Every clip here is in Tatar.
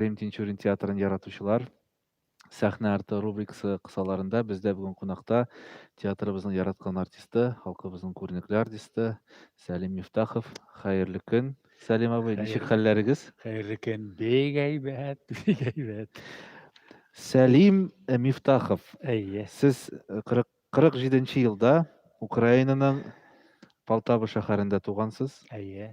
Рим Тинчурин театрын яратучылар, сәхнә арты рубрикасы кысаларында бездә бүген кунакта театрыбызның яраткан артисты, халкыбызның күренекле артисты Сәлим Мифтахов. Хәерле көн, Сәлим абый, ничек хәлләрегез? Хәерле көн, бик әйбәт, бик әйбәт. Сәлим э, Мифтахов, Әйе. сез 40, 47 елда Украинаның Полтава шәһәрендә тугансыз. Әйе.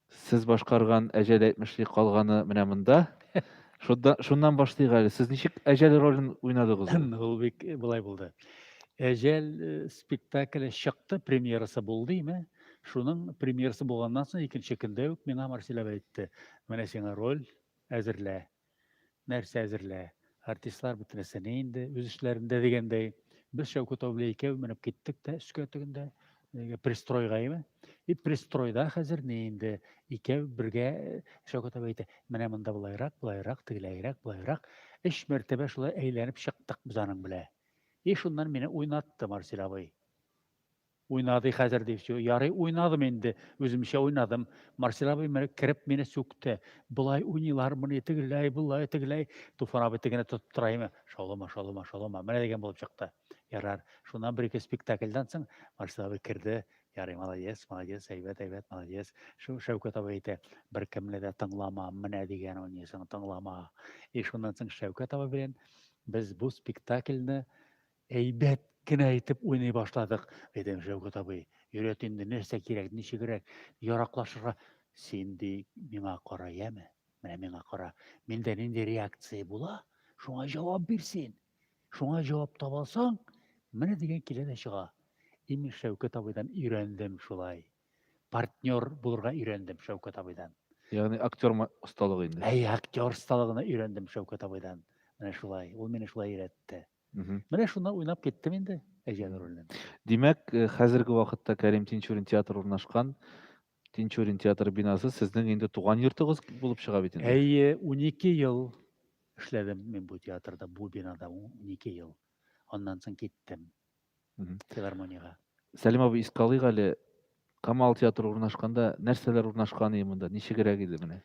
Сез башкарган әҗәл әйтмешли калганы менә монда. Шунда, шуннан башлыйк әле. Сез ничек әҗәл ролен уйнадыгыз ул? Ул бик былай булды. Әҗәл э, спектакле чыкты, премьерасы булды име? Шуның премьерасы булганнан соң икенче көндә үк миңа Марсель әйтте, менә сиңа роль әзерлә. Нәрсә әзерлә? Артистлар бетмәсә ни инде, үз эшләрендә дигәндәй. Без Шәүкәт абый белән икәү менеп киттек тә өскә тегендә э, пристройга име? И пристройда хәзер ни инде икәү бергә э, Шәүкәт абый әйтә, менә монда былайрак, былайрак, тегеләйрәк, былайрак. Өч мәртәбә шулай әйләнеп чыктык без аның белән. И шуннан мине уйнатты Марсель абый. Уйнады хәзер ди всё. Ярый уйнадым инде, үземчә уйнадым. Марсель абый менә кереп мине сүкте. Болай уйныйлармыни, тегеләй, болай, тегеләй. Туфан абый тегене тотып тора име, шаулама, шаулама, шаулама. Менә дигән булып чыкты. Ярар. Шуннан бер-ике спектакльдән соң Марсель абый керде. Ярый, молодец, молодец, әйбәт, әйбәт, молодец. Шул Шәүкәт абый әйтә, беркемне дә тыңлама, менә дигән уйныйсың, тыңлама. И шуннан соң Шәүкәт абый белән без бу спектакльне Әйбәт кенә итеп уйный башладык, дидем Шәүкәт абый. Өйрәт инде, нәрсә кирәк, ничегрәк яраклашырга. Син, ди, миңа кара, яме? Менә миңа кара. Миндә нинди реакция була, шуңа җавап бир син. Шуңа җавап таба алсаң, менә дигән килә дә чыга. Имеш, Шәүкәт абыйдан өйрәндем шулай. Партнер булырга өйрәндем Шәүкәт абыйдан. Ягъни актер осталыгы инде. Әй, актер осталыгына өйрәндем Шәүкәт абыйдан. Менә шулай. Ул мине шулай өйрәтте. Менә шуннан уйнап киттем инде Әҗән роленнән. Димәк, э, хәзерге вакытта Кәрим Тинчурин театры урнашкан Тинчурин театры бинасы сезнең инде туган йортыгыз булып чыга бит инде. Әйе, 12 ел эшләдем мин бу театрда, бу бинада 12 ел. Аннан соң киттем. филармониягә. Сәлим абый, искә алыйк әле, Камал театры урнашканда нәрсәләр урнашкан иде монда, ничегрәк иде менә?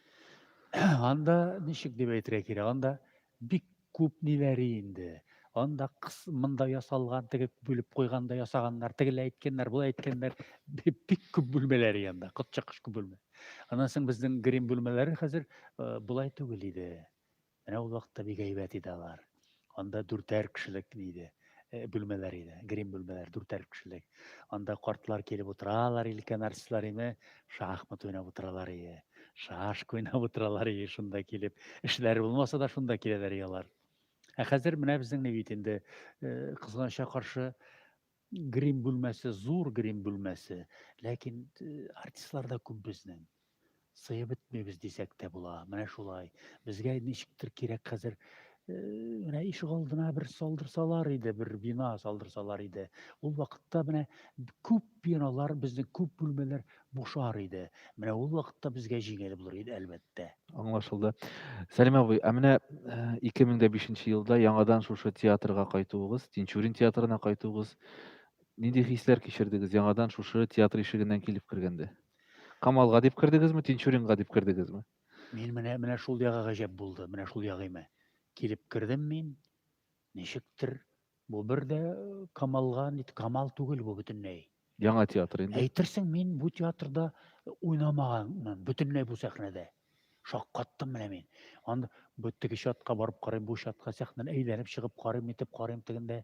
Анда ничек дип әйтергә кирәк, анда бик күп ниләре инде. Анда кыс, монда ясалган, теге бүлеп куйганда ясаганнар, тегеләй әйткәннәр, болай әйткәннәр. Бик күп бүлмәләр янда, котчакыш күп бүлмә. Аннан соң безнең грим бүлмәләре хәзер э, болай түгел иде. Менә ул вакытта бик әйбәт иде алар. Анда дүртәр кешелек иде, э, бүлмәләр иде, грим бүлмәләр, дүртәр кешелек. Анда картлар килеп утыралар, өлкән артистлар име, шахмат уйнап утыралар иде, шашка уйнап утыралар иде шунда килеп. Эшләре булмаса да шунда киләләр иде алар. Ә хәзер менә безнең бит инде, э, кызганычка каршы, Грим бүлмәсе, зур грим бүлмәсе, ләкин артистлар да күп безнең. Сыеп бетмибез дисәк тә була. Менә шулай. Безгә ничектер кирәк хәзер менә ишек алдына бер салдырсалар иде, бер бина салдырсалар иде. Ул вакытта менә күп биналар, безнең күп бүлмәләр Бушар иде. Менә ул вакытта безгә җиңел булыр иде, әлбәттә. Аңлашылды. Сәлим абый, ә менә 2005 э, нче елда яңадан шушы театрга кайтуыгыз, Тинчурин театрына кайтуыгыз, нинди хисләр кичердегез яңадан шушы театр ишегеннән килеп кергәндә? Камалга дип кердегезме, Тинчуринга дип кердегезме? Мин менә менә шул ягы гаҗәп булды, менә шул ягыймә. Килеп кердем мин, Ничектер бу бер дә камалга нит камал түгел бу бөтенләй. Яңа театр инде. Әйтерсең, мин бу театрда уйнамаганмын, бөтенләй бу сәхнәдә. Шаккаттым менә мин. Анда бу теге чатка барып карыйм, бу чатка сәхнәне әйләнеп чыгып карыйм, итеп карыйм тегендә.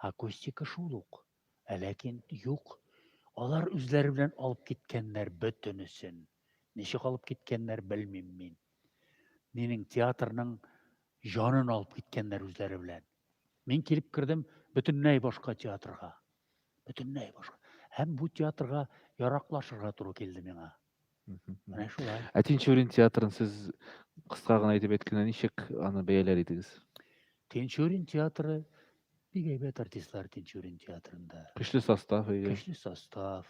Акустика шул ук. Ә ләкин юк. Алар үзләре белән алып киткәннәр бөтенесен. Ничек алып киткәннәр, белмим мин. Минем театрның җанын алып киткәннәр үзләре белән. Мин килеп кердем бөтенләй башка театрга. Бөтенләй башка. Һәм бу театрга яраклашырга туры килде миңа. Ә Тинчурин театрын сез кыска гына әйтеп әйткәндә ничек аны бәяләр идегез? Тинчурин театры бик әйбәт артистлар Тинчурин театрында. Көчле состав, әйе. Көчле состав.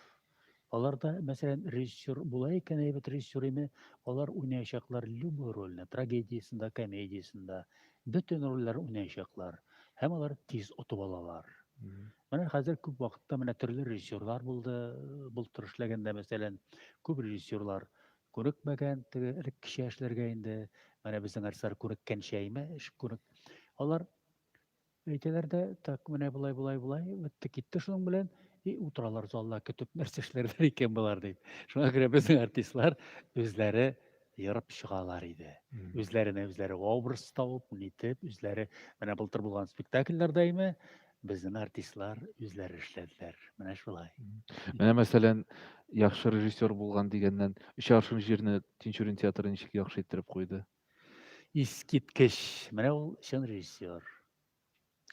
Аларда, мәсәлән, режиссер була икән, әйбәт режиссер име, алар уйнаячаклар любой рольне, трагедиясендә, комедиясендә, бөтен рольләр уйнаячаклар. Һәм алар тиз отып алалар. Менә хәзер күп вакытта менә төрле режиссерлар булды, былтыр эшләгәндә, мәсәлән, күп режиссерлар күнекмәгән, теге элек кичә эшләргә инде, менә безнең артистлар күнеккәнчә әйме, эш күнек. Алар әйтәләр дә, так, менә болай, болай, болай, бетте, китте шуның белән, и утыралар залда көтеп, нәрсә эшләрләр икән болар дип. Шуңа күрә безнең артистлар үзләре ерып чыгалар иде. Үзләренә үзләре образ табып, нитеп, үзләре менә былтыр булган спектакльләрдә име, безнең артистлар үзләре эшләделәр. Менә шулай. Менә мәсәлән, яхшы режиссер булган дигәннән, өч аршын җирне Тинчурин театры ничек яхшы иттереп куйды? Искиткеч. Менә ул чын режиссер.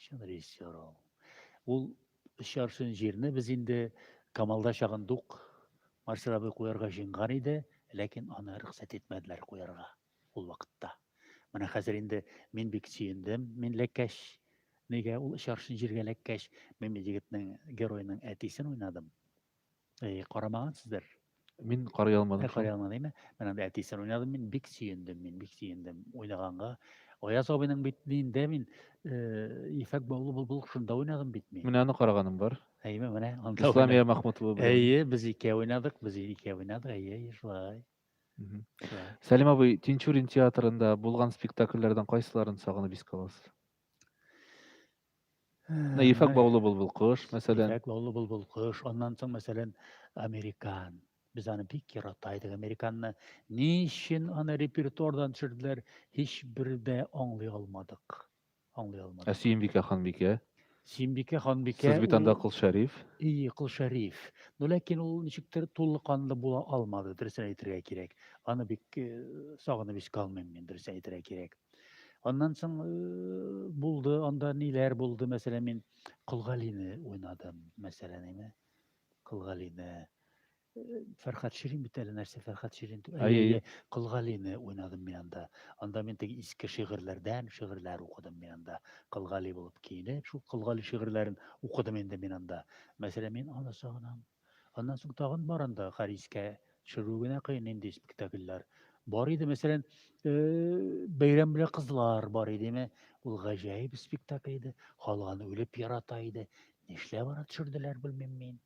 Чын режиссер ул. Ул өч аршын җирне без инде Камалда чагындук Марсел абый куярга җыенган иде, ләкин аны рөхсәт итмәделәр куярга ул вакытта. Менә хәзер инде мин бик сөендем, мин ләккәч. Нигә ул өч аршын җиргә ләккәч, мин бит егетнең героеның әтисен уйнадым. Әй, карамаган сездер. Мин карый алмадым. Карый алмадым, әйме? Мен анда әтисен уйнадым, мин бик сөендем, мин бик сөендем уйнаганга. Аяз абыйның бит нинде мин э, ефәк баулы бул бул шунда уйнадым бит мин. Менә аны караганым бар. Әйме, менә анда. Исламия Махмутова. Әйе, без ике уйнадык, без ике уйнадык, әйе, әйе, шулай. Сәлим абый, Тинчурин театрында булган спектакльләрдән кайсыларын сагынып искә аласыз? Менә ефәк баулы булбул кош, мәсәлән. Ефәк баулы булбул кош, аннан соң, мәсәлән, американ. Без аны бик ярата идек. Американны ни өчен аны репертуардан төшерделәр, һичбер дә аңлый алмадык. Аңлый алмадык. Ә Сөембикә ханбикә? Сөембикә ханбикә. Сез бит анда Кол Шәриф. Ие, Кол Шәриф. Но ләкин ул ничектер тулыканлы була алмады, дөресен әйтергә кирәк. Аны бик э, сагынып искә алмыйм мин, дөресен әйтергә кирәк. Аннан соң булды, анда ниләр булды, мәсәлән, мин Колгалине уйнадым, мәсәлән, име? Колгалине. Фәрхат Ширин бит әле нәрсә Фәрхат Ширин. Әйе, Колгалине уйнадым мин анда. Анда мин теге иске шигырьләрдән шигырьләр укыдым мин анда. Колгали булып киенеп, шул Колгали шигырьләрен укыдым инде мин анда. Мәсәлән, мин аны сагынам. Аннан соң тагын бар анда Харискә төшерү генә кыен нинди спектакльләр. Бар иде, мәсәлән, э, Бәйрәм белән кызлар бар иде, мә. Ул гаҗәеп спектакль иде. Халык аны үлеп ярата иде. Нишләп аны төшерделәр, белмим мин.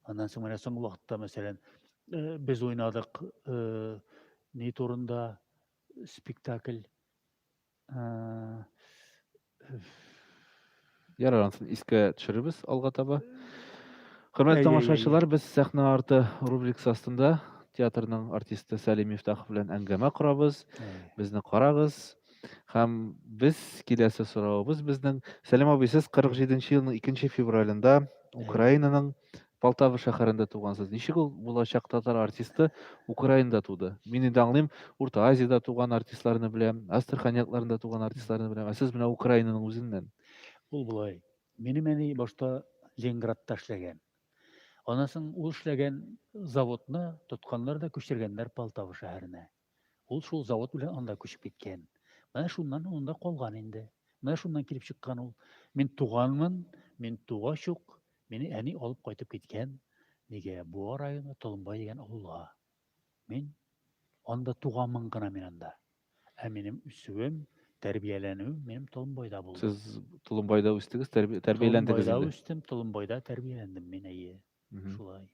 Аннан соң менә соңгы вакытта, мәсәлән, э, без уйнадык э, ни турында спектакль Ярар, ансын искә төшерербез алга таба. Хөрмәтле тамашачылар, без сәхнә арты рубрикасы астында театрның артисты Сәлим Мифтахов белән әңгәмә корабыз. Безне карагыз. Һәм без киләсе соравыбыз безнең Сәлим абый, сез 47 елның 2 февралендә Украинаның Полтава шәһәрендә тугансыз. Ничек ул булачак татар артисты Украинада туды? Мин инде аңлыйм, Урта Азиядә туган артистларны беләм, Астрахань якларында туган артистларны беләм, ә сез менә Украинаның үзеннән. Ул болай. Минем әни башта Ленинградта эшләгән. Аннан соң ул эшләгән заводны тотканнар да күчергәннәр Полтава шәһәренә. Ул шул завод белән анда күчеп киткән. Менә шуннан ул анда калган инде. Менә шуннан килеп чыккан ул. Мин туганмын, мин тугач ук мине әни алып кайтып киткән. Нигә Буа районы Толымбай дигән авылга. Мин анда туганмын гына мин анда. Ә минем үсүем, тәрбияләнүем минем Толымбайда булды. Сез Толымбайда үстегез, тәрбияләндегез инде. Толымбайда үстем, Толымбайда тәрбияләндем мин әйе. Шулай.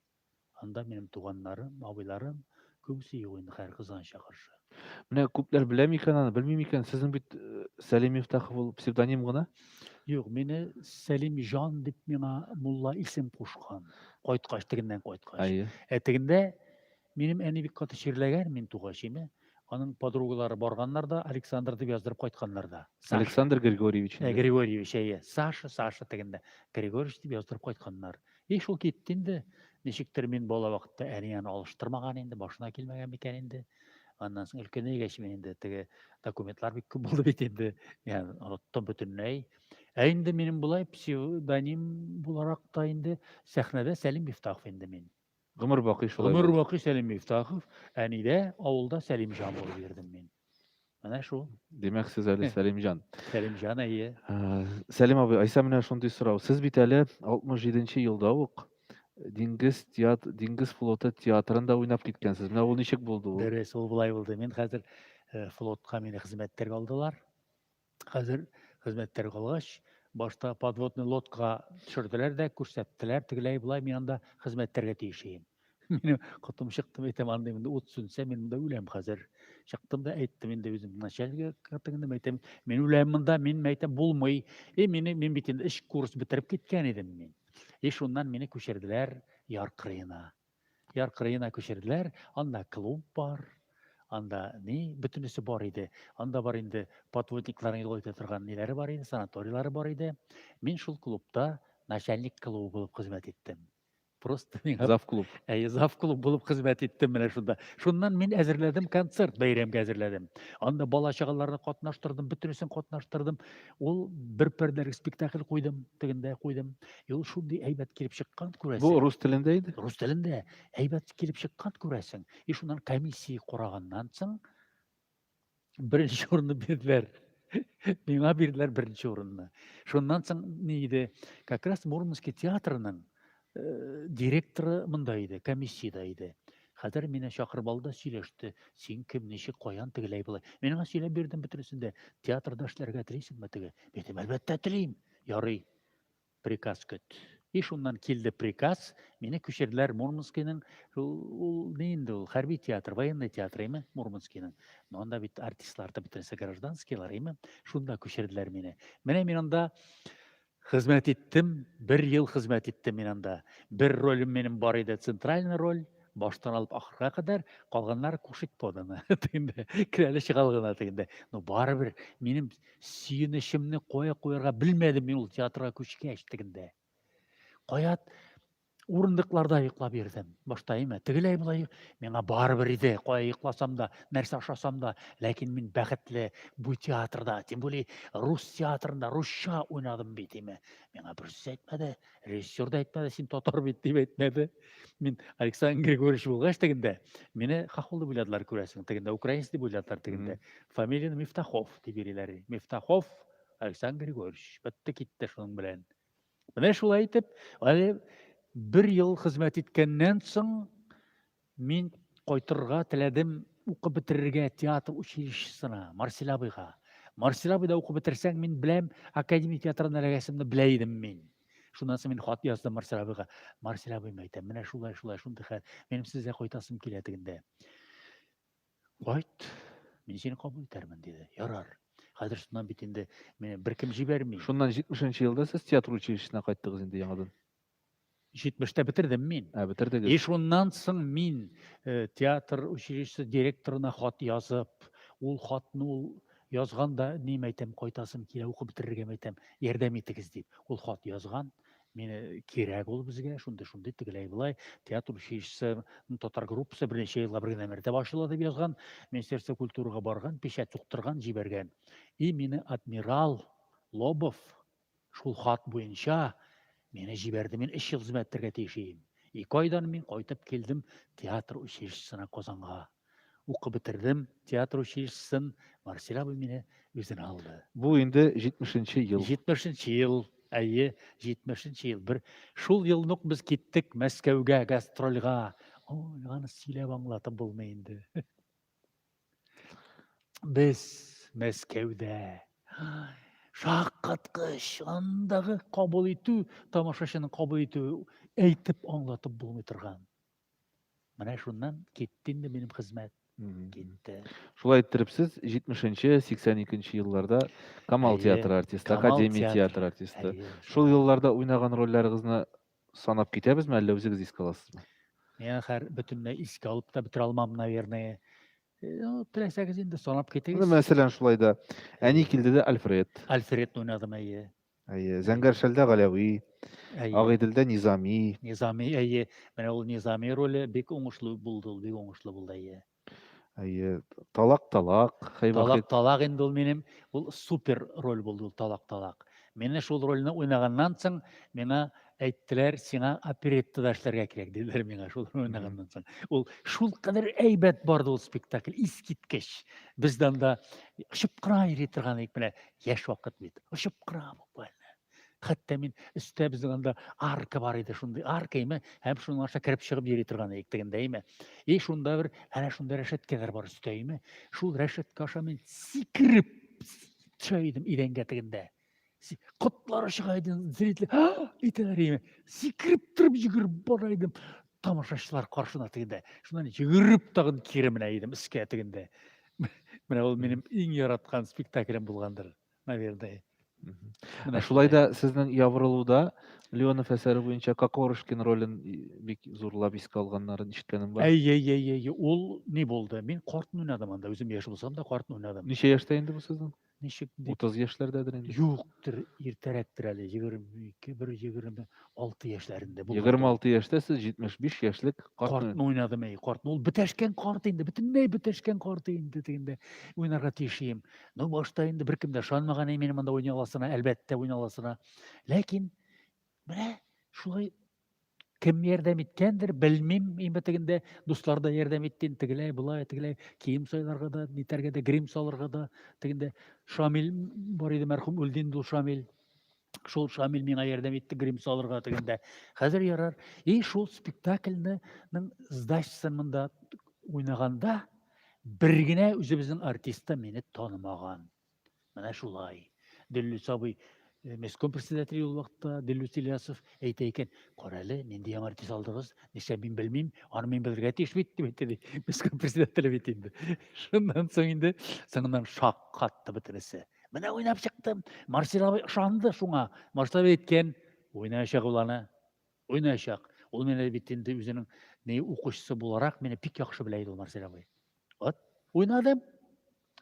Анда минем туганнарым, абыйларым, күбесе юк инде хәер кызганыча каршы. Менә күпләр белә микән аны, белми микән? Сезнең бит э, Сәлим Мифтахов ул псевдоним гына. Юк, мине Сәлим җан дип миңа мулла исем кушкан. Кайткач, тегеннән кайткач. Әйе. Ә тегендә минем әни бик каты чирләгән мин тугач инде. Аның подругалары барганнар да, Александр дип яздырып кайтканнар да. Саша. Александр Григорьевич. Ә, Григорьевич, әйе. Саша, Саша тегендә. Григорьевич дип яздырып кайтканнар. И шул китте инде. Ничектер мин бала вакытта әниен алыштырмаган инде, башына килмәгән микән инде. Аннан соң өлкәнәйгәч мин инде теге документлар бик күп булды бит инде. Яны оныттым бөтенләй. Ә инде минем болай псевдоним буларак та инде сәхнәдә Сәлим Мифтахов инде мин. Гомер бакый шулай. Гомер бакый Сәлим Мифтахов, әнидә авылда Сәлимҗан булып йөрдем мин. Менә шул. Димәк, сез әле Сәлимҗан. Сәлимҗан, әйе. Сәлим абый, Айса менә шундый сорау. Сез бит әле 67-нче елда ук диңгез теат диңгез флоты театрында уйнап киткәнсез. Менә ул ничек булды ул? Дөрес, ул болай булды. Мин хәзер флотка мине хезмәттәгә алдылар. Хәзер хезмәттәр калгач, башта подводный лодка төшерделәр дә, күрсәттеләр, тегеләй болай мин анда хезмәттәргә тиеш идем. Минем котым чыкты, әйтәм, анда инде ут сүнсә, мин монда үләм хәзер. Чыктым да әйттем инде үзем начальнигә катыгында, әйтәм, мин үләм монда, мин әйтәм, булмый. И мине мин бит инде эш курс бетереп киткән идем мин. И шуннан мине күчерделәр Яр кырыена. Яр кырыена күчерделәр, анда клуб бар, анда ни, бөтенесе бар иде. Анда бар инде подводникларның юл итә торган ниләре бар иде, санаторийлары бар иде. Мин шул клубта начальник клубы булып хезмәт иттем. Просто миңа Зав клуб. Әйе, зав клуб булып хезмәт иттем менә шунда. Шуннан мин әзерләдем концерт, бәйрәмгә әзерләдем. Анда бала чагаларны катнаштырдым, бөтенесен катнаштырдым. Ул бер пәрдәлек спектакль куйдым, тегендә куйдым. И ул шундый әйбәт килеп чыккан, күрәсең. Бу рус телендә иде? Рус телендә әйбәт килеп чыккан, күрәсең. И шуннан комиссия кураганнан соң беренче урынны бирделәр. Миңа бирделәр беренче урынны. Шуннан соң ни иде? Как раз Мурманский театрының э, директоры монда иде, комиссияда иде. Хәзер мине чакырып алды, сөйләште. Син кем, ничек, каян тегеләй болай? Мин аңа сөйләп бирдем бөтенесен дә. Театрда эшләргә телисеңме теге? Әйттем, әлбәттә телим. Ярый. приказ көт. И шуннан килде приказ, мине күчерделәр Мурманскийның, ул ни инде ул, хәрби театр, военный театр име Мурманскийның. Но анда бит артистлар да бөтенесе гражданскийлар име, шунда күчерделәр мине. Менә мин анда хезмәт иттем, бер ел хезмәт иттем мин анда. Бер ролем минем бар иде, центральный роль, Баштан алып ахырга кадәр калганнары кушать поданы дигәндә керәле чыгал гына дигәндә ну барыбер минем сөенечемне кая куярга белмәдем мин ул театрга күчкәч дигәндә кая урындыкларда йоклап йөрдем башта әйме тегеләй болай миңа барыбер иде кая йокласам да нәрсә ашасам да ләкин мин бәхетле бу театрда тем более рус театрында русча уйнадым бит әйме миңа берсе әйтмәде Режиссер да әйтмәде, син татар бит дип әйтмәде. Мин Александр Григорьевич булгач тегендә, мине Хахул дип уйладылар күрәсең, тегендә украинец дип уйладылар тегендә. Фамилияне Мифтахов дип йөриләр. Мифтахов Александр Григорьевич. Бетте китте шуның белән. Менә шулай итеп, әле бер ел хезмәт иткәннән соң Мин кайтырга теләдем, укып бетерергә театр училищесына, Марсель абыйга. Марсель абыйда укып бетерсәң, мин беләм, академия театрына эләгәсемне белә идем мин. Шуннан соң мин хат яздым Марсель абыйга. Марсель абыйм әйтәм, менә шулай, шулай, шундый хәл. Минем сезгә кайтасым килә дигәндә. Кайт, мин сине кабул итәрмен, диде. Ярар. Хәзер шуннан бит инде мине беркем җибәрми. Шуннан 70 нче елда сез театр училищесына кайттыгыз инде яңадан. 70-тә бетердем мин. Ә, бетердегез. И шуннан соң мин э, театр училищесы директорына хат язып, ул хатны ул язганда ним әйтәм, кайтасым килә, укып бетерергә әйтәм, ярдәм итегез дип. Ул хат язган, мені э, кирәк ул безгә, шундый шундый тегеләй былай, театр училищесы татар группасы берничә еллап бергә нәмәрдә башла дип язган, Министерство культурага барган, печать суктырган, җибәргән. И мине адмирал Лобов Шул хат буенча мине җибәрде, мин өч ел хезмәт итәргә тиеш идем. Ике айдан мин кайтып килдем театр училищесына Казанга. Укып бетердем театр училищесын, Марсель абый мине үзенә алды. Бу инде 70 ел. 70 ел, әйе, 70 ел. Бер шул елны ук без киттек Мәскәүгә гастрольга. Ой, аны сөйләп аңлатып булмый инде. Без Мәскәүдә. Шаккаткыч, андагы кабул итү, тамашачының кабул итү әйтеп аңлатып булмый торган. Менә шуннан китте инде минем хезмәт. Китте. Шулай иттереп сез 70-82 елларда Камал театры артисты, Камал Академия театры. театры артисты. Әйе, Шул елларда уйнаган рольләрегезне санап китәбезме, әллә үзегез искә аласызмы? Мин хәр бөтенләй искә алып та бетерә алмам, наверное. Э, ну, теләсәгез инде санап китегез. Ну, мәсәлән, шулай да. Әни килде дә Альфред. Альфред уйнадым, әйе. Әйе, Зәңгәршәлдә Галәви, Агыйделдә Низами. Низами, әйе. Менә ул Низами роле бик уңышлы булды, ул бик уңышлы булды, әйе. Әйе, талак талак, Талак талак инде ул минем, ул супер роль булды ул талак талак. Менә шул рольне уйнаганнан соң миңа әйттеләр, сиңа оперетта да эшләргә кирәк диделәр миңа шул уйнаганнан соң. Ул шул кадәр әйбәт барды ул спектакль, искиткеч. Без данда очып кына йөри торган идек менә яшь вакыт бит. Очып кына буквально. Хәтта мин өстә безнең анда арка бар иде, шундый арка име, һәм шуның аша кереп чыгып йөри торган идек тегендә име. И шунда бер әнә шунда рәшәткәләр бар өстә име. Шул рәшәткә аша мин сикереп төшә идем идәнгә тегендә. Котлары чыга иде, зритель, итәләр име. Сикереп торып йөгереп бара идем тамашачылар каршына тегендә. Шуннан йөгереп тагын кире менә идем өскә тегендә. Менә ул минем иң яраткан спектаклем булгандыр. наверное. Ә шулай да сезнең ябырылуда Леонов әсәре буенча Кокорышкин ролен бик зурлап искә алганнарын ишеткәнем бар. Әй, әй, әй, әй, ул ни булды? Мин картны уйнадым анда, үзем яшь булсам да картны уйнадым. Ничә яшьтә инде бу сезнең? Ничек? 30 яшьләрдәдер инде. Юктыр, иртәрәктер әле, 22, бер 20. алты яшьләрендә булган. Егерме алты яшьтә сез җитмеш биш яшьлек картны уйнадым әй картны. Ул бетәшкән карт инде, бөтенләй бетәшкән карт инде дигәндә уйнарга тиеш идем. Ну башта инде беркем дә ышанмаган иде минем монда уйный аласына, әлбәттә уйный аласына. Ләкин менә шулай кем ярдәм иткәндер, белмим, инде тегендә дуслар да ярдәм итте, тегеләй, былай, тегеләй, кием сайларга да, нитәргә дә, грим салырга да, тегендә Шамил бар иде мәрхүм, үлде инде ул Шамил. Шул Шамил миңа ярдәм итте грим салырга дигәндә. Хәзер ярар. И шул спектакльнең сдачасын монда уйнаганда бер генә үзебезнең артистта мине танымаган. Менә шулай. Дөлле сабый Э, местком председателе ул вакытта Дилүс Ильясов әйтә икән, карале, нинди яңа артист алдыгыз, нишләп мин белмим, аны мин белергә тиеш бит, дип әйтте, местком председателе бит инде. Шуннан соң инде соңыннан шаккатты бөтенесе. Менә уйнап чыктым. Марсел абый ышанды шуңа. Марсел абый әйткән, уйнаячак ул аны. Уйнаячак. Ул мине бит инде үзенең не укучысы буларак мине бик яхшы белә иде ул Марсель абый. Вот, уйнадым.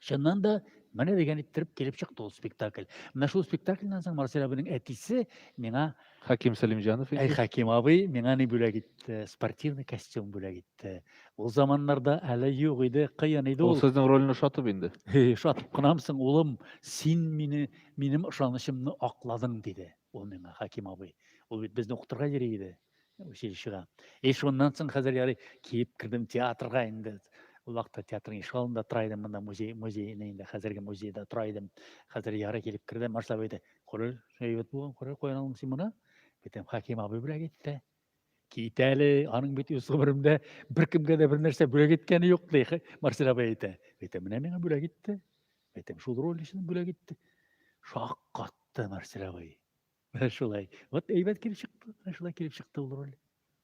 Чыннан да менә дигән иттереп килеп чыкты ул спектакль. Менә шул спектакльдан соң Марсель абыйның әтисе миңа Хәким Сәлимҗанов инде. Әй Хәким абый, миңа ни бүләк итте? Спортивный костюм бүләк итте. Ул заманнарда әле юк иде, кыен иде ул. Ул сезнең рольне ошатып инде. Ошатып кынамы соң, улым, син мине, минем ышанычымны акладың, диде ул миңа, Хәким абый. Ул бит безне укытырга йөри иде, училищега. И шуннан соң хәзер ярый киеп кердем театрга инде. Ул вакытта театрның ишек алдында тора идем, монда музей, музейный инде, хәзерге музейда тора идем. Хәзер ярый килеп кердем, Марсель абый әйтә, Коры шәйбәт булган, коры каян алдың син моны? Битем Хаким абый бүләк итте. Кит әле, аның бит үз гомерендә беркемгә дә бер нәрсә бүләк иткәне юк, ди Марсель абый әйтә. Битем менә миңа бүләк итте. Битем шул роль өчен бүләк итте. Шаккатты Марсель абый. Менә шулай. Вот әйбәт килеп чыкты. Менә шулай килеп чыкты ул роль.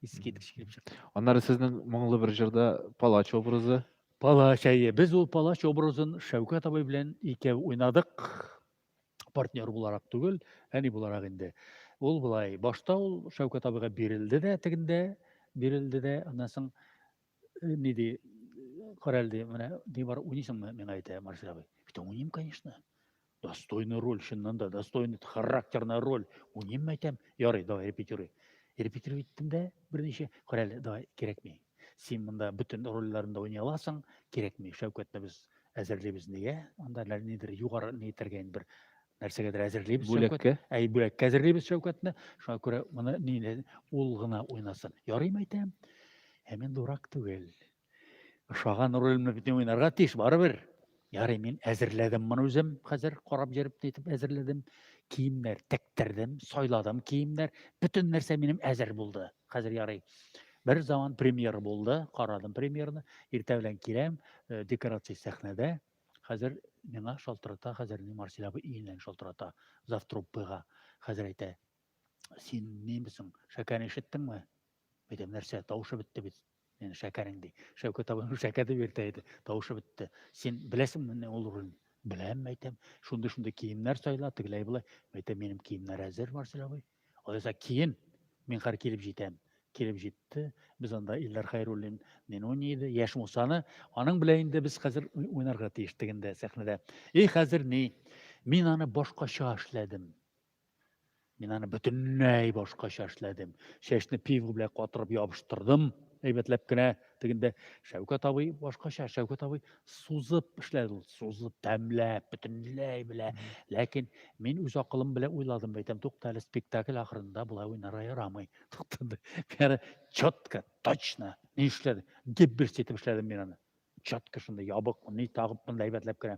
Искиткеч килеп чыкты. Аннары сезнең моңлы бер җырда палач образы. Палач әйе. Без ул палач образын Шәүкәт абый белән икәү уйнадык. партнер буларак түгел, әни буларак инде. Ул былай, башта ул Шәүкәт абыйга бирелде дә тегендә, бирелде дә, аннан соң э, ни ди, караль ди, менә ни бар, уйныйсыңмы, миңа әйтә Марсель абый. Бит уйныйм, конечно. Достойный роль, чыннан да, достойный, характерная роль. Уйныйм, әйтәм, ярый, давай, репетируй. Репетируй иттем дә, берничә, караль, давай, кирәкми. Син монда бөтен рольләрен дә уйный аласың, кирәкми, Шәүкәтне без әзерлибез нигә? Анда нидер югары ни итәргә инде бер нәрсәгәдер әзерлибез Бүләккә. Әй, бүләккә әзерлибез Шәүкәтне. Шуңа күрә моны ни ул гына уйнасын. Ярыймы әйтәм? Ә мин дурак түгел. Ошаган рольне бөтен уйнарга тиеш барыбер. Ярый, мин әзерләдем моны үзем, хәзер карап йөреп нитеп әзерләдем. Киемнәр тектердем, сайладым киемнәр, бөтен нәрсә минем әзер булды. Хәзер ярый. Бер заман премьер булды, карадым премьерны. Иртә белән киләм, э, декорация сәхнәдә. Хәзер миңа шалтырата, хәзер ни Марсель абый иеннән шалтырата завтруппыга. Хәзер әйтә, син немесең, шәкәне ишеттеңме? Әйтәм, нәрсә, тавышы бетте бит. Менә шәкәрең ди. Шәүкәт абый шәкәр дип йөртә иде. Тавышы бетте. Син беләсеңме менә ул роль? Беләм, мәйтәм. Шундый шундый киемнәр сайла, тегеләй болай. Мәйтәм, минем киемнәр әзер, Марсель абый. Алайса киен. Мин хәр килеп җитәм. Килеп җитте. Без анда Илдар Хайруллин не уйный иде. Яшь Мусаны. Аның белән инде без хәзер уйнарга тиештек инде сәхнәдә. И хәзер ни? Мин аны башкача эшләдем. Мин аны бөтенләй башкача эшләдем. Чәчне пива белән катырып ябыштырдым. Әйбәтләп кенә тегендә Шәүкәт абый башкача, Шәүкәт абый сузып эшләде ул, сузып, тәмләп, бөтенләй белә. Ләкин мин үз акылым белән уйладым, әйтәм, тукта әле спектакль ахырында болай уйнарга ярамый. Туктады. Бәрі четко, точно ни эшләде? Дип бер сетеп эшләдем мин аны. Четко шунда ябык, ни тагып, әйбәтләп кенә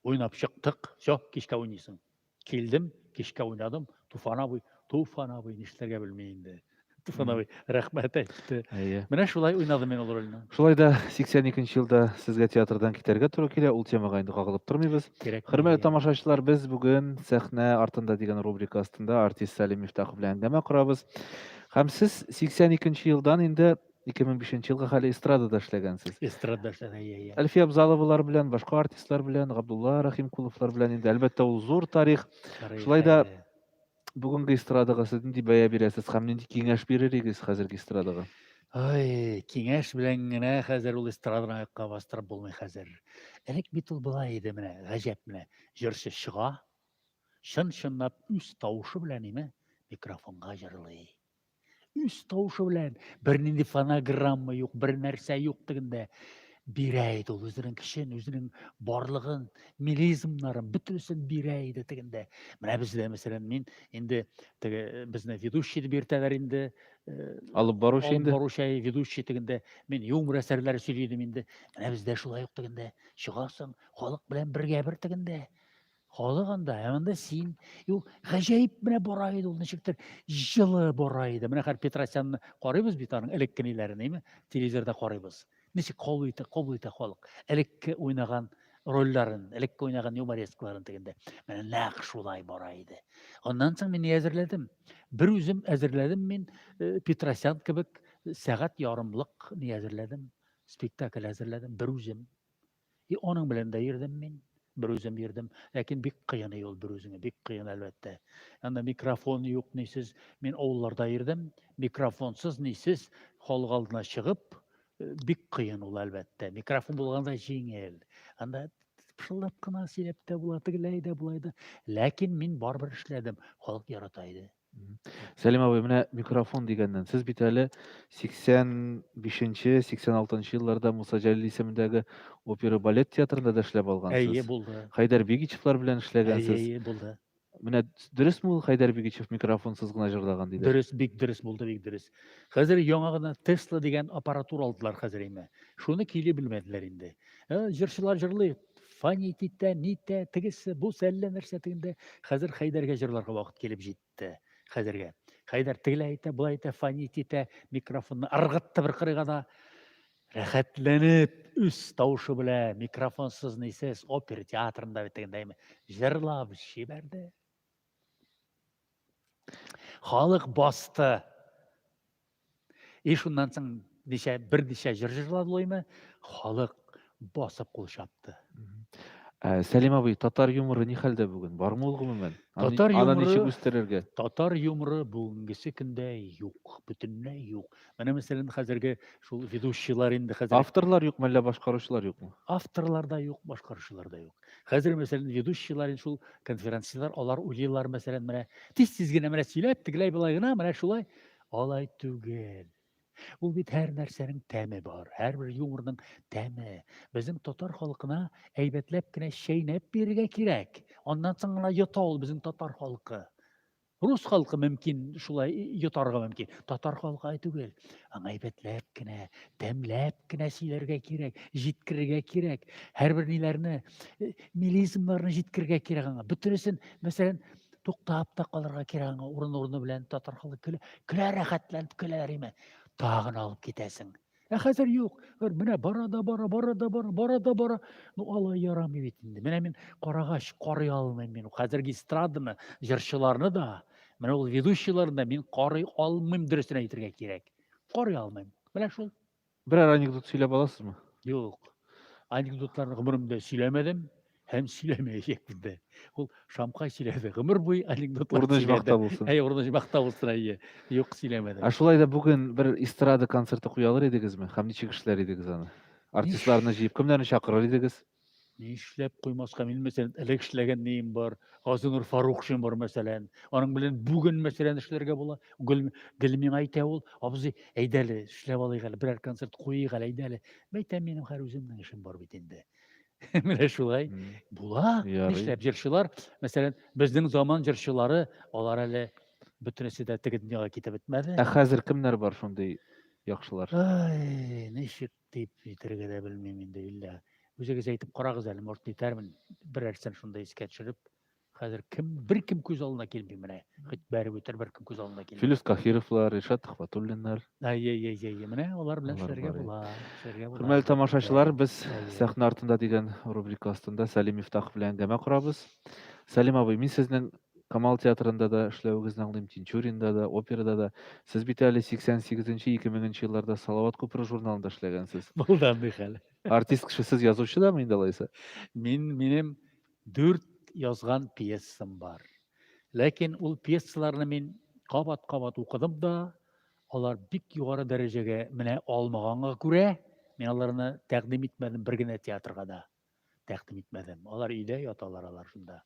уйнап чыктык. Все, кичкә уйныйсың. Килдем, кичкә уйнадым, Туфан абый, Туфан абый, нишләргә белми инде. Туфан абый рәхмәт әйтте. Әйе. Менә шулай уйнадым мин ул рольне. Шулай да 82 елда сезгә театрдан китәргә туры килә, ул темага инде кагылып тормыйбыз. Кирәк. Хөрмәтле тамашачылар, без бүген Сәхнә артында дигән рубрика астында артист Салим Мифтахов белән әңгәмә корабыз. Һәм сез 82 елдан инде 2005 елга хәле эстрадада эшләгәнсез. Эстрадада эшләгән, иә, иә. Әлфия Абзаловалар белән, башка артистлар белән, Габдулла Рахимкуловлар белән инде әлбәттә ул зур тарих. Шулай да бүгенге эстрадага сез нинди бәя бирәсез һәм нинди киңәш бирер идегез хәзерге эстрадага? Ай, киңәш белән генә хәзер ул эстраданы аякка бастырып булмый хәзер. Элек бит ул болай иде менә, гаҗәп менә. Җырчы чыга, чын-чынлап үз тавышы белән име микрофонга җырлый. үз тавышы белән бернинди фонограмма юк бер нәрсә юк дигәндә бирә иде ул үзенең көчен үзенең барлыгын мелизмнарын бөтенесен бирә иде дигәндә менә бездә мәсәлән мин инде теге безне ведущий дип йөртәләр инде э, алып баручы инде баручы ведущий дигәндә мин юмор әсәрләре сөйли идем инде менә бездә шулай ук дигәндә чыгасың халык белән бергә бер дигәндә Халык анда, ә монда син. Юк, гаҗәеп менә бара иде ул, ничектер җылы бара иде. Менә хәзер Петросянны карыйбыз бит аның элеккениләрен, әйме? Телевизорда карыйбыз. Ничек кабул итә, кабул итә халык. Элекке уйнаган рольләрен, элекке уйнаган юморескларын дигәндә. Менә нәкъ шулай бара иде. Аннан соң мин әзерләдем. Бер үзем әзерләдем мин э, Петросян кебек сәгать ярымлык ни әзерләдем. Спектакль әзерләдем бер үзем. И аның белән дә йөрдем мин, бер үзем йөрдем. Ләкин бик кыен ул бер үзеңә, бик кыен әлбәттә. Анда микрофон юк, нисез. Мин авылларда йөрдем, микрофонсыз, нисез, халык алдына чыгып, э, бик кыен ул әлбәттә. Микрофон булганда җиңел. Анда пышылдап кына сөйләп тә була, тегеләй дә, булай да. Ләкин мин барыбер эшләдем. Халык ярата иде. Сәлим абый, менә микрофон дигәннән, сез бит әле 85-нче, 86-нчы елларда Муса Җәлил исемендәге опера балет театрында да эшләп алгансыз. Әйе, булды. Хәйдәр Бигичевлар белән эшләгәнсез. Әйе, булды. Менә дөресме ул Хәйдәр Бигичев микрофонсыз гына җырлаган диде? Дөрес, бик дөрес булды, бик дөрес. Хәзер яңа гына Tesla дигән аппаратура алдылар хәзер инде. Шуны кили белмәделәр инде. Җырчылар җырлый, Фанит итә, нитә, тегесе, бу әллә нәрсә тегендә. Хәзер Хәйдәргә җырларга вакыт килеп җитте. Хәзергә. Хәйдәр тегелә итә, була итә, фанит итә, микрофонны ыргытты бер кырыйга да. Рәхәтләнеп, үз тавышы белән, микрофонсыз нисез, опер театрында бит тегендә җырлап җибәрде. Халык басты. И шуннан соң ничә бер ничә җыр җырладылыймы, халык басып кул чапты. Ә, Сәлим абый, татар юморы ни хәлдә бүген? Бармы ул гомумән? Аны, Татар аны юморы- ничек үстерергә? Татар юморы бүгенгесе көндә юк, бөтенләй юк. Менә мәсәлән хәзерге шул ведущийлар инде хәзер Авторлар юк, мәллә башкаручылар юкмы? авторлар да юк, башкаручылар да юк. Хәзер мәсәлән ведущийлар шул конференцияләр алар уйлыйлар мәсәлән менә тиз тиз генә менә сөйләп тегеләй болай гына менә шулай алай түгел. Ул бит һәр нәрсәнең тәме бар, һәрбер юморның тәме. Безнең татар халкына әйбәтләп кенә чәйнәп бирергә кирәк. Аннан соң гына йота ул безнең татар халкы. Рус халкы мөмкин шулай йотарга мөмкин. Татар халкы түгел. Аңа әйбәтләп кенә, тәмләп кенә сөйләргә кирәк, җиткерергә кирәк. Һәрбер ниләрне, э, милизмнарны җиткерергә кирәк аңа. Бөтенесен, мәсәлән, туктап та калырга кирәк аңа. Урын-урыны белән татар халкы көлә, көлә рәхәтләнеп көләләр имән. Тагын алып китәсең. Ә хәзер юк. Гөр менә бара да бара, бара да бара, бара да бара. Ну алай ярамый бит инде. Менә мин карагач карый алмыйм мин. Хәзерге эстраданы, җырчыларны да, менә ул ведущийларны да мин карый алмыйм дөресен әйтергә кирәк. Карый алмыйм. Менә шул. Берәр анекдот сөйләп аласызмы? Юк. Анекдотларны гомеремдә сөйләмәдем. һәм сөйләмәячәкбез дә. Ул Шамка сөйләде, гомер буе анекдотлар Урын сөйләде. булсын. Әй, урын җмакта булсын, әйе. Юк, сөйләмәде. Ә шулай да бүген бер эстрада концерты куя алыр идегезме? Һәм ничек эшләр идегез аны? Артистларны җыеп кемнәрне чакырыр идегез? Ни эшләп куймаска, мин мәсәлән, элек эшләгән неем бар, Газинур Фарухшин бар мәсәлән. Аның белән бүген мәсәлән эшләргә була. Гөл, гел миңа әйтә ул, абзый, әйдә әле, эшләп алыйк әле, берәр концерт куйыйк әле, әйдә әле. Мәйтәм, минем хәр үземнең эшем бар бит инде. Менә шулай. Мгм. Була. Ярый. Нишләп җырчылар, мәсәлән, безнең заман җырчылары, алар әле бөтенесе дә теге дөньяга китеп бетмәде. Ә хәзер кемнәр бар шундый яхшылар? Ай, ничек дип әйтергә дә белмим инде, Илья. Үзегез әйтеп карагыз әле, может, итәрмен. Берәрсен шунда искә төшереп. Хәзер кем беркем күз алдына килми менә. Хит бәреп үтер беркем күз алдына килми. Филүс Кахировлар, Ришат Төхвәтуллиннар. Әй-әй-әй, менә алар белән Алар эшләргә бар, була. Эшләргә була. Хөрмәтле тамашачылар, без Әйе. сәхнә артында дигән рубрика астында Сәлим Мифтахов белән әңгәмә корабыз. Сәлим абый, мин сезнең Камал театрында да эшләвегезне аңлыйм, Тинчуринда да, операда да. Сез бит әле 88-2000 елларда Салават күпере журналында эшләгәнсез. Булды андый хәл. Артист кеше сез язучы да мин дә алайса? Мин минем Дүрт язган пьесам бар. Ләкин ул пьесаларны мин кабат-кабат укыдым да, алар бик югары дәрәҗәгә менә алмаганга күрә, мин аларны тәкъдим итмәдем бер генә театрга да. Тәкъдим итмәдем. Алар өйдә яталар алар шунда.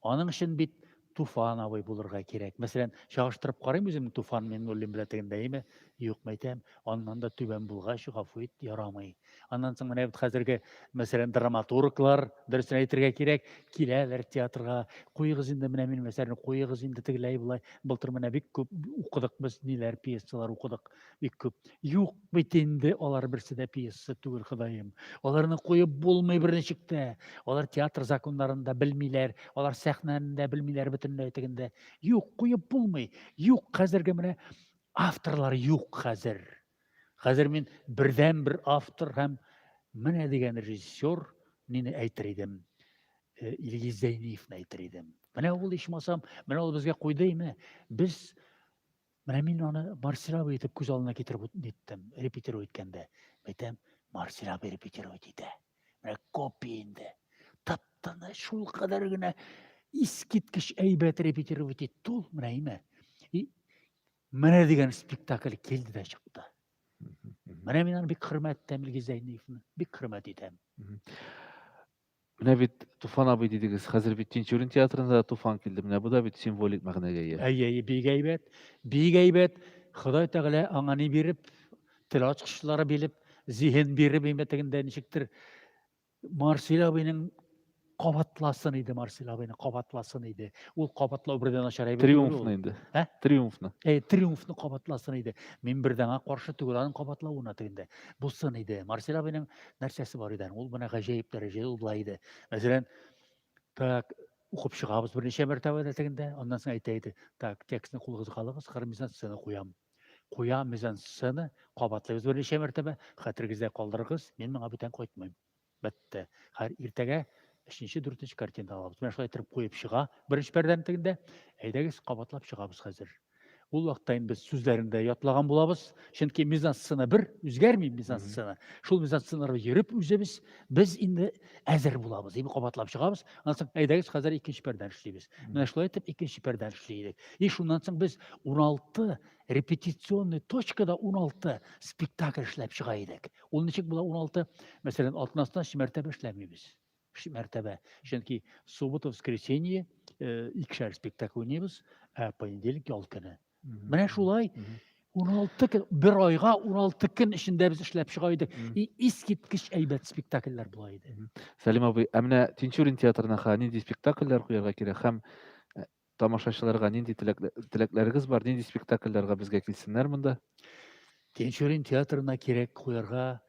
Аның өчен бит Туфан абый булырга кирәк. Мәсәлән, чагыштырып карыйм үземне Туфан Миңнуллин белән тегендәеме? Юк, мәйтәм, аннан да түбән булгач, гафу ит, ярамый. Аннан соң менә бит хәзерге, мәсәлән, драматурглар, дөресен әйтергә кирәк, киләләр театрга. Куегыз инде менә минем әсәрне, куегыз инде тегеләй-болай. Былтыр менә бик күп укыдык без, ниләр, пьесалар укыдык. Бик күп. Юк бит инде алар берсе дә пьеса түгел, Ходаем. Аларны куеп булмый берничек тә. Алар театр законнарын да белмиләр, алар сәхнәне дә белмиләр бөтенләй тегендә. Юк, куеп булмый. Юк, хәзерге менә авторлар юк хәзер. Хәзер мин бердән бер автор һәм менә дигән режиссер нине әйтер идем. Э, Илгиз Зәйниевны әйтер идем. Менә ул ичмасам, менә ул безгә куйды име? Без Менә мин аны Марсилабы итеп күз алдына китереп ниттем, репетиру иткәндә. Әйтәм, Марсилабы репетиру итә. Менә копия инде. Таптаны шул кадәр генә искиткеч әйбәт репетиру итте ул, менә име. И менә дигән спектакль килде дә чыкты. Менә мин аны бик хөрмәт итәм Илгиз Зәйниевны, бик хөрмәт итәм. Менә бит Туфан абый дидегез. Хәзер бит Тинчурин театрында да Туфан килде. Менә бу да бит символик мәгънәгә ия. Әйе, әйе, бик әйбәт. Бик әйбәт. Ходай Тәгалә аңа ни биреп, тел ачкычлары биреп, зиһен биреп, инде тегендә ничектер Марсил абыйның кабатласын иде Марсил абыйны, кабатласын иде. Ул кабатлау бердән начар әйбер. Триумфны инде. Ә? Триумфны. Әй, триумфны кабатласын иде. Мин бердәңә каршы түгел аның кабатлавына тегендә. Булсын иде. Марсил абыйның нәрсәсе бар иде ул менә гаҗәеп дәрәҗәдә ул былай иде мәсәлән так укып чыгабыз берничә мәртәбә дә тегендә аннан соң әйтә иде так текстны кулыгызга алыгыз хәзер мизансцена куям куя мизансцена кабатлыйбыз берничә мәртәбә хәтерегездә калдырыгыз мин моңа бүтән кайтмыйм бетте хәзер иртәгә өченче дүртенче картина алабыз менә шулай итеп куеп чыга беренче пәрдәнең тегендә әйдәгез кабатлап чыгабыз хәзер Ул вакытта инде без сүзләрен дә ятлаган булабыз, чөнки мизансцена бер, үзгәрми мизансцена. Шул мизансценага йөреп үзебез без инде әзер булабыз, дип кабатлап чыгабыз. Аннан соң әйдәгез хәзер икенче пәрдән эшлибез. Менә шулай итеп икенче пәрдән эшли идек. И шуннан соң без 16 репетиционный точкада 16 спектакль эшләп чыга идек. Ул ничек була 16? Мәсәлән, атнасына өч мәртәбә эшләмибез. Өч мәртәбә. Чөнки суббота, воскресенье э, икешәр спектакль уйныйбыз, ә понедельник ял көне. Менә шулай 16 көн, бер айга 16 көн эчендә без эшләп чыга идек. И искиткеч әйбәт спектакльләр була иде. Сәлим абый, ә менә Тинчурин театрына ха нинди спектакльләр куярга кирәк һәм э, тамашачыларга нинди теләкләрегез бар, нинди спектакльләргә безгә килсеннәр монда? Тинчурин театрына кирәк куярга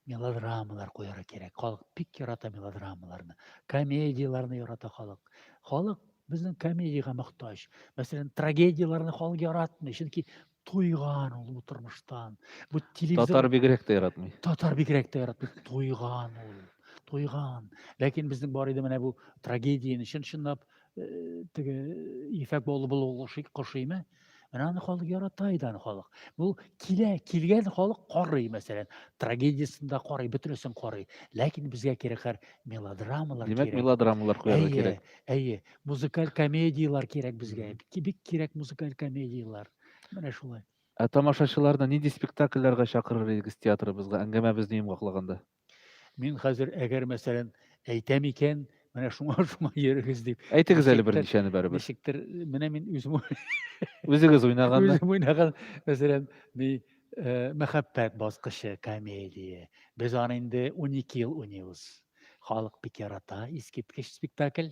мелодрамалар куярга кирәк. Халык бик ярата мелодрамаларны. Комедияләрне ярата халык. Халык безнең комедиягә мохтаҗ. Мәсәлән, трагедияләрне халык яратмый, чөнки туйган ул тормыштан. Бу телевизор Татар бигрәк тә яратмый. Татар бигрәк тә яратмый. Туйган ул. Туйган. Ләкин безнең бар иде менә бу трагедияне чын-чынлап э, теге ефәк баулы булу кошыймы? Менә аны халык ярата иде аны халык. Бу килә, килгән халык карый, мәсәлән, трагедиясендә карый, бөтенесен карый. Ләкин безгә кирәк хәр мелодрамалар кирәк. Димәк, мелодрамалар куярга кирәк. Әйе, музыкаль комедиялар кирәк безгә. Бик кирәк музыкаль комедиялар. Менә шулай. Ә тамашачыларны нинди спектакльләргә чакырыр идегез театрыбызга әңгәмәбезне йомгаклаганда? Мин хәзер, әгәр мәсәлән, әйтәм икән, менә шуңа шуңа йөрегез дип. Әйтегез әле берничәне бәребез. Ничектер, менә мин үзем Үзегез уйнаганны. Үзем уйнаган, мәсәлән, ни э, мәхәббәт баскычы комедия. Без аны инде 12 ел уйныйбыз. Халык бик ярата, искиткеч спектакль.